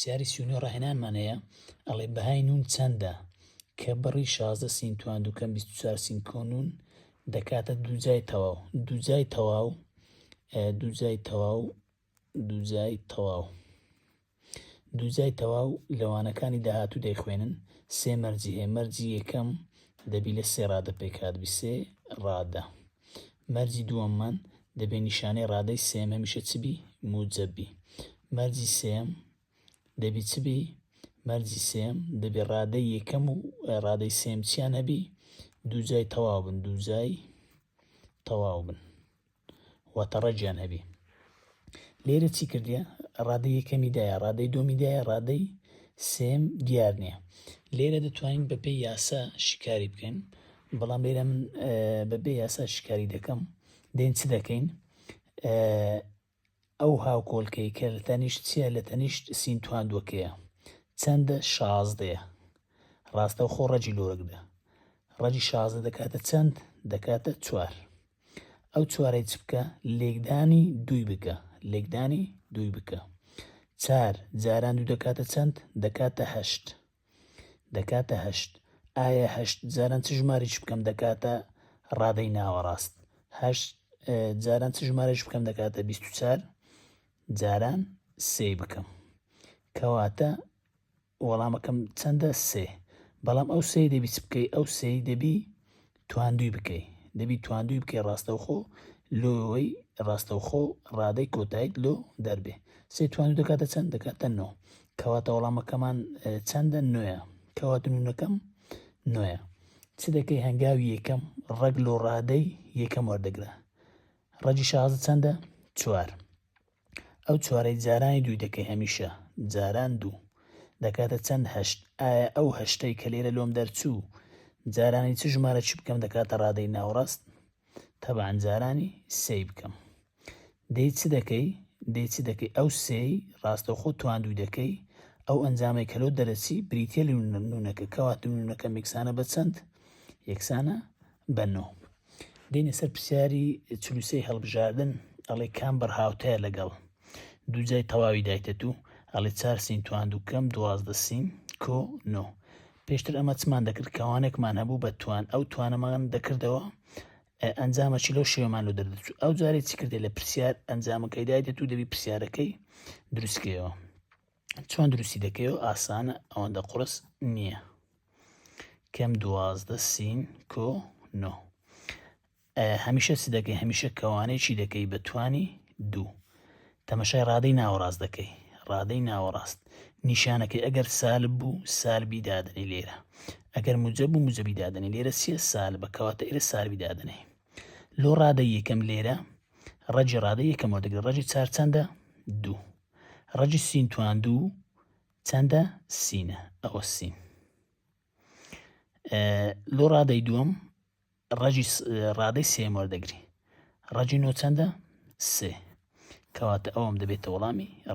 پرسیاری سی و نۆ ڕاهێنانمان هەیە ئەڵێ بەهای نون چەندە کە بڕی شازدە سین توان دووکەم بیست و چوار سین کۆ نون دەکاتە دووجای تەواو دووجای تەواو دووجای تەواو دووجای تەواو دووجای تەواو لەوانەکانی داهاتوو دەیخوێنن سێ مەرجی هەیە مەرجی یەکەم دەبی لە سێ ڕادە پێکات بی سێ ڕادە مەرجی دووەممان دەبێ نیشانەی ڕادەی سێم هەمیشە چ بی موجب بی مەرجی سێم دەبی چ بی مەرجی سێم دەبێ ڕادەی یەکەم و ڕادەی سێم چیان هەبی دوو جای تەواو بن دوو جای تەواو بن واتە ڕەجیان هەبی لێرە چی کردە ڕادە یەکەمی دایە ڕادەی دۆمی دایە ڕادەی سێم دیار نییە لێرە دەتوانین بەپی یاسا شیکاری بکەین بەڵام لێرە من بەبێ یاسا شیکاری دەکەم دێن چ دەکەین ئەو هاوکۆلکەی کە لە تەنیشت چیە لە تەنیشت سینتوان دۆکەیە چەندە شازدەیە ڕاستە خۆ ڕەجی لۆرەکدا ڕەجی شازدە دەکاتە چەند دەکاتە چوار ئەو چوارەی چ بکە؟ لێکدانی دووی بکە. لێکدانی دووی بکە. چار جاران دوو دەکاتە چەند؟ دەکاتە هەشت. دەکاتە هەشت. ئایا هەشت جاران چ ژمارەیەکی بکەم دەکاتە ڕادەی ناوەڕاست؟ هەشت جاران چ ژمارەیەکی بکەم دەکاتە بیست و چار جاران سێی بکەم. کەواتە وەڵامەکەم چەندە سێ بەڵام ئەو سێی دەبی چ بکەی ئەو سێی دەبی تواندوی بکەی دەبی تواندوی بکەی ڕاستەوخۆ لۆەوەی ڕاستەوخۆ ڕادەی کۆتایت لۆ دەربێ سێ توانو دەکاتە چەند دەکاتە نۆ کەواتە وەڵامەکەمان چەندە نوێە کەواتنونەکەم نوێە چ دەکەی هەنگاوی یەکەم ڕەگ لۆ ڕادەی یەکەم وەردەگرە ڕەجی شازە چەندە چوار ئەو چوارەی جارانی دووی دەکەی هەمیشە، جاران دوو، دەکاتە چەند هەشت، ئایا ئەو هەشتەی کە لێرە لۆم دەرچوو جارانی چ ژمارەکی بکەم دەکاتە ڕادەی ناوەڕاست؟ تەبعەن جارانی سێی بکەم. دەی چ دەکەی؟ دەی چ دەکەی؟ ئەو سێی ڕاستەوخۆ توان دووی دەکەی؟ ئەو ئەنجامەی کە لۆ دەرەچی بریتییە لە نونەکە، کەواتە نونەکە میکسانە بە چەند؟ یەکسانە بە نۆ. دێنە سەر پرسیاری چل و سێی هەڵبژاردن، ئەڵێ کام بڕ هاوتایە لەگەڵ دوو جای تەواوی دایتەتو، ئەڵێ چار سین توان دوو کەم دوازدە سین کۆ نۆ. پێشتر ئەمە چمان دەکرد کەوانێکمان هەبوو بە توان ئەو توانەمان دەکردەوە ئەنجامەکی لەو شێوەمان لۆ دەردەچوو ئەو جارێ چی کردێ لە پرسیار ئەنجامەکەی دایتە تو دەبی پرسیارەکەی دروستکەوە چۆن دروستی دەکەی و ئاسانە ئەوەندە قڕس نییە کەم دوازدە سین کۆ نۆ هەمیشە چ دەکەی هەمیشە کەوانەی چی دەکەی بە توانی دوو تەمەشای ڕادەی ناوەڕاست دەکەی ڕادەی ناوەڕاست نیشانەکەی ئەگەر سال بوو سالبی دادنی لێرە ئەگەر موجە بوو موجەبی دادنی لێرە سێ سال بەکەواتە ئێرە سالبی دادنی لۆ ڕادە یەکەم لێرە ڕەجی ڕادە یەکەمەوە دەگرێت ڕەجی چار چەندە دوو ڕەجی سین توان دوو چەندە سینە ئەوە سین لۆ ڕادەی دووەم ڕەجی ڕادەی سێم وەردەگری ڕەجی نۆ چەندە سێ کەواتە ئەوم دەبێتە وەڵامی